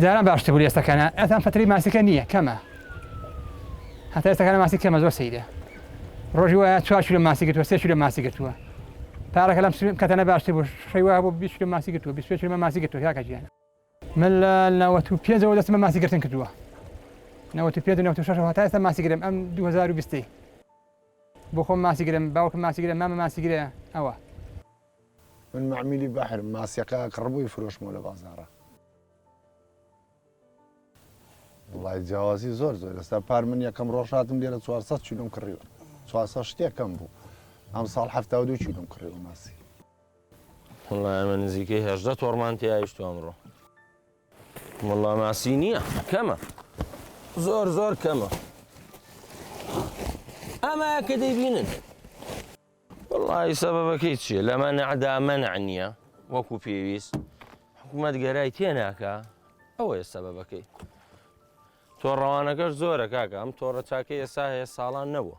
جاران باشتر بوو ئێستەکەە ئەتان فتری ماسیکە نییە کەمە هەتا ئێستەکان ماسی کەمە زۆر سیدە ڕۆژی وایە چوار کیلۆ ماسی گرتووە سێ کیلۆ ماسی گرتووە پارەکە لەم سوێم کەتەنە باشتر بوو شەی وایە بۆ بیست کیلۆ ماسی گرتووە بیست و پێنج کیلۆ ماسی گرتووە کاکە گیان من لە نەوەت و پێنجەوە دەستم بە ماسی گرتن کردووە نەوەت و پێنج و نەوەت و شەشەوە هەتا ئێستا ماسی گرم ئەم دوو هەزار و بیستی بۆ خۆم ماسی گرم باوکم ماسی گرە مامە ماسی گرە ئەوە من معمیلی بەحرم ماسیەکە کڕبووی فرۆشمەوە لە بازاڕە. وەڵای جیاوازی زۆر زۆر ئێستا پار من یەکەم ڕۆژ هاتم لێرە 400 چیلۆم کڕیوە 400 شتێکم بوو ئەم ساڵ هەفتا و دوو چیلۆم کڕیوە ماسی وەڵای ئەمە نزیکەی هێشدە تۆڕمان تێایشت ئەمڕۆ وەڵا ماسی نییە کەمە زۆر زۆر کەمە ئەمە کە دەیبینن وەڵاهی سەبەبەکەی چیە لە مەنعدا مەنع نییە وەکو پێویست حکومەت گەرای تێناکە ئەوەیە سەبەبەکەی تۆ ڕەوانەکەش زۆرە کاکە ئەم تۆڕە چاکە ئێسا هەیە ساڵان نەبووە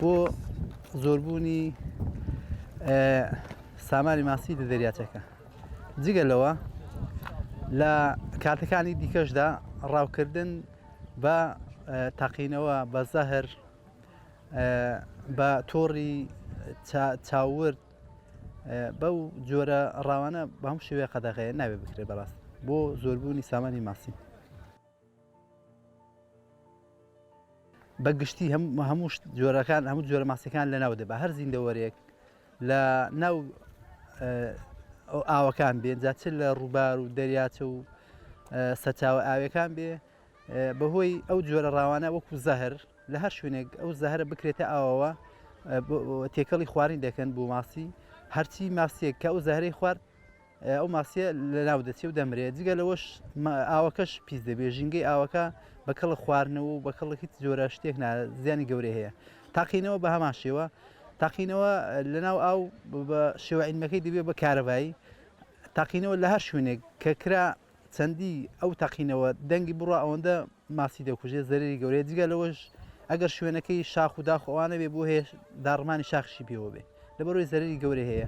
بۆ زۆربوونی سامانی ماسی لە دەریاچەکە جگە لەوە لە کاتەکانی دیکەشدا ڕاوکردن بە تاقینەوە بە زەهر بە تۆڕی چاورد بەو جۆرە ڕاوانە بەم شێوەیە قەدەغەیە ناوێ بکرێت بەڕاست بۆ زۆربوونی سامانی ماسی. بە گشتی هەموو جۆرەکان هەموو جۆرە ماسیەکان لە ناو دەبا هەر زیندەوەرێک لە ناو ئاوەکان بێن جا چ لە ڕووبار و دەریاچە و سەچاوە ئاوەکان بێ بەهۆی ئەو جۆرە ڕاوانە وەکو زەهر لە هەر شوێنێک ئەو زەهرە بکرێتە ئاوەوە تێکەڵی خوارین دەکەن بۆ ماسی هەرچی ماسیێک کە ئەو زەهرەی خوارد ئەو ماسیە لەناو دەچێ و دەمرێ جگە لەوەش ئاوەکەش پیس دەبێ ژینگەی ئاوەکە بە کەڵە خواردنەوە و بە کەڵکی جۆرە شتێک زیانی گەورەی هەیە تاقینەوە بە هەمان شێوە تاقینەوە لەناو ئاو بە شێوعینەکەی دەبێ بە کارەبایی تاقینەوە لە هەر شوێنێک کە کرا چەندی ئەو تەقینەوە دەنگی بڕە ئەوەندە ماسی دەکوژێ زەرری گەورەیە جگە لەوەش ئەگەر شوێنەکەی شاخ و داخ ئەوانە بێ بۆ هەیە داڕمانی شاخشی پێوە بێ لەبەرۆی زەرری گەورە هەیە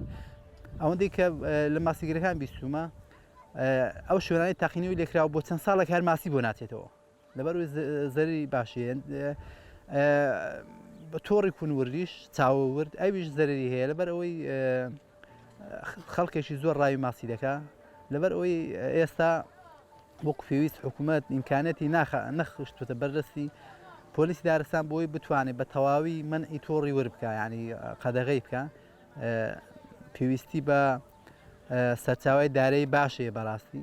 ئەوەندەی کە لە ماسیگرەکان بیستومە ئەو شوێنانی تاقینەوەی لێکراوە بۆ چەند ساڵێک هەر ماسی بۆ ناچێتەوە لەبەر وی زەرری باشێن بە تۆڕی کونوردیش چاوە ورد ئەویش زەرری هەیە لەبەر ئەوەی خەڵکێکی زۆر ڕاوی ماسی دەکا لەبەر ئەوەی ئێستا وەک پێویست حکوومەت ئیمکانەتی ناخ نەخشتوتە بەردەستی پۆلیسی دارستان بۆی بتوانێت بە تەواوی من ئی تۆڕی ور بکە ینی قەدەغی بکە پێویستی بە سەرچاوی دارەی باشەیە بەڕاستی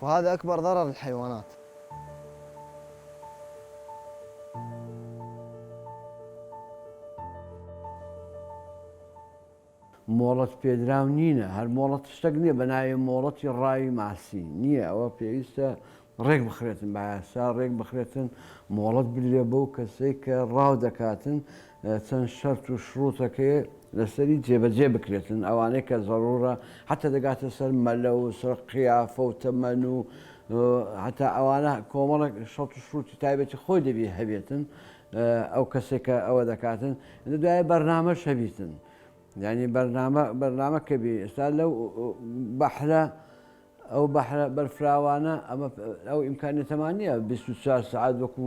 وهذا اکبر ضرر الحیوانات. مۆڵەت پێدراو نینە هەر مۆڵەت شتەک نیە بەناوی مۆڵەتی ڕاوی ماسی نیە ئەوە پێویستە ڕێک بخرێتن بایاسا ڕێک بخرێتن مۆڵەت بدرێ بەو کەسەی کە ڕاو دەکاتن چەند شەرت و شڕوتەکێ لەسەری جێبەجێ بکرێتن ئەوانەی کە زەڕوڕە حەتە دەگاتە سەر مەلە و سەر قیافە و تەمەن و حەتا ئەوانە کۆمەڵێک شەڕت و شڕوتی تایبەتی خۆی دەبی هەبێتن ئەو کەسێک کە ئەوە دەکاتن لە دوایە بەرنامە شەبیتن یعنی بەرنامە بەرنامە کە بی ئێستا لەو بەحرە ئەو بەحرە بەرفراوانە ئەمە ئەو ئیمکانێتەمان نییە 24 سعات وەکو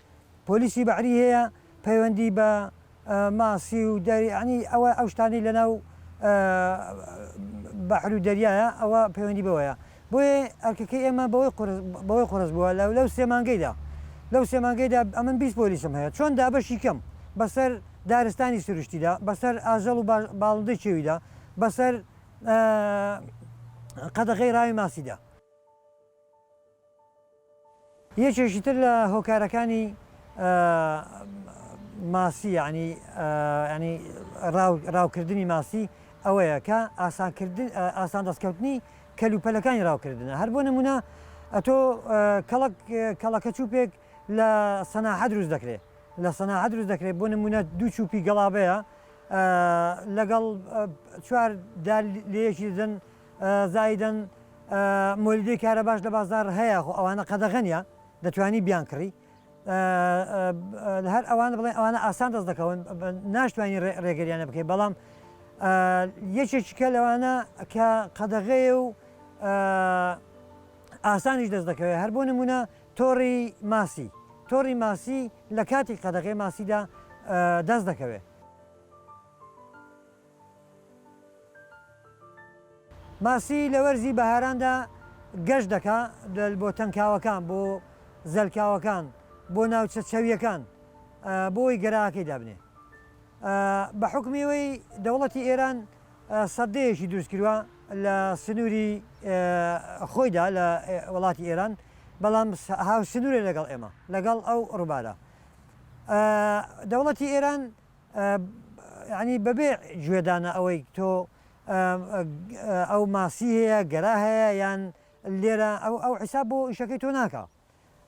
پۆلیسی بەحری هەیە پەیوەندی بە ماسی و دەری یانی ئەوە ئەو شتانەی لەناو بەحر و دەریایە ئەوە پەیوەندی بەوەیە بۆیە ئەرکەکەی ئێمە بەوەی قورس بەوەی قورس بووە لە لەو سێ مانگەیدا لەو سێ مانگەیدا ئەمن بیست پۆلیسم هەیە چۆن دابەشی کەم بەسەر دارستانی سروشتیدا بەسەر ئاژەڵ و باڵندەی چێویدا بەسەر قەدەغەی ڕاوی ماسیدا. یەکێکی تر لە هۆکارەکانی ماسی یعنی یعنی ڕاوکردنی ماسی ئەوەیە کە ئاسان دەستکەوتنی کەلوپەلەکانی ڕاوکردنە هەر بۆ نمونە ئەتۆ کەڵک کەڵەکە چوپێک لە سەناحە دروست دەکرێت لە سەناحە دروست دەکرێت بۆ نمونە دوو چوپی گەڵابەیە لەگەڵ چوار لەیەکی دن زایدەن مۆلیدەی کارەباش لە بازار هەیە خۆ ئەوانە قەدەغەنە دەتوانی بیان کڕی هەر ئەوان بڵێ ئەوانە ئاسان دەست دەکەون ناشتوانانی ڕێگەریانە بکەی بەڵام یەکێکیکە لەوانە کە قەدەغەیە و ئاسانیش دەست دەکەوێت هەر بۆ نمونە تۆڕی ماسی تۆڕی ماسی لە کاتی قەدەغێ ماسیدا دەست دەکەوێت ماسی لە وەرزی بەهاراندا گەشت دەکا بۆ تەنکاوەکان، بۆ زەلکاوەکان، بۆ ناوچە چەوییەکان بۆ ئەوەی گەراکەی دابنێ. بە حوکمی ئەوەی دەوڵەتی ئێران سەددەیەکی دروست کردوە لە سنووری خۆیدا لە وڵاتی ئێران، بەڵام هاوسنوورە لەگەڵ ئێمە، لەگەڵ ئەو ڕووبارە. دەوڵەتی ئێران یانی بەبێ گوێدانە ئەوەی تۆ ئەو ماسی هەیە گەرا هەیە یان لێرە ئەو حیساب بۆ ئیشەکەی تۆ ناکە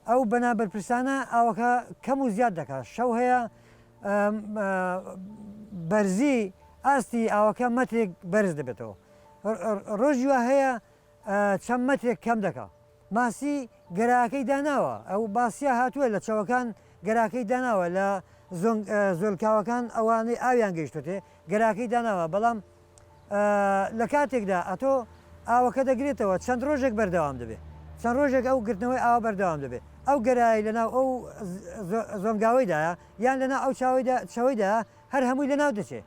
ئەو بەنا بەرپرسانە ئاوەکە کەم و زیاد دەکات شەو هەیە بەرزی ئاستی ئاوەکە مەترێک بەرز دەبێتەوە ڕۆژیوە هەیە چەند مەترێک کەم دەکا. ماسی گەراکەی داناوە ئەو باسیا هاتووە لە چەوەکان گەراکەی داناوە لە زۆلکاوەکان ئەوانەی ئاویان گەیشتێ گەراکەی داناوە بەڵام لە کاتێکدا ئەتۆ ئاوەکە دەگرێتەوە چەند ڕۆژێک بەردەوام دەبێت چەند ڕۆژێک ئەو گرتنەوەی ئاوا بەردەوام دەبێت ئەو گەرایی لەناو ئەو زۆنگاوەیدایە یان لەنا ئەو چاوەیدا چەوەیدا هەر هەمووی لەناو دەچێت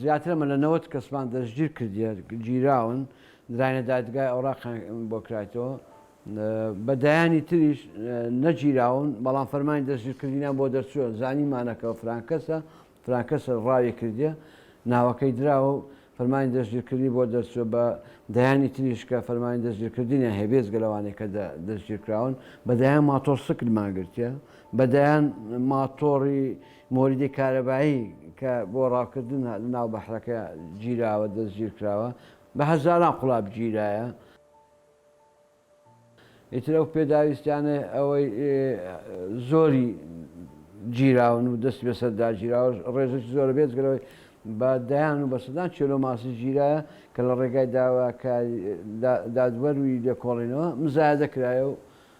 زیاتر لە نەوەد کەسمان دەستگیر کردیە، گیراون، دراینە دادگای ئەوراقیان بۆ کرایتەوە، بە دەیانی تریش نەگیراون، بەڵام فەرمانی دەستگیرکردنیان بۆ دەرچووە، زانیمانە کە فرانکەسە، فرانکەسە ڕاوی کردیە، ناوەکەی دراوە و فەرمانی دەستگیرکردنی بۆ دەرچووە، بە دەیانی تریش کە فەرمانی دەستگیرکردنیان هەیە، بێجگە لەوانەی کە دەستگیرکراون، بە دەیان ماتۆڕسکلمان گرتیە، بە دەیان ماتۆڕی مۆلیدی کارەبایی کە بۆ ڕاوکردن لە ناو بەحرەکە گیراوە، دەستگیرکراوە، بە هەزاران قوڵاب گیرایە. ئیتر ئەو پێداویستیانەی ئەوەی زۆری گیراون و دەستی بەسەر داگیراوە ڕێژەکی زۆرە بێجگە لەوەی بە دەیان و بە سەدان کێلۆ ماسی گیرایە کە لە ڕێگای داواکاری دادوەر و لێکۆڵینەوە مزایەدە کرایە و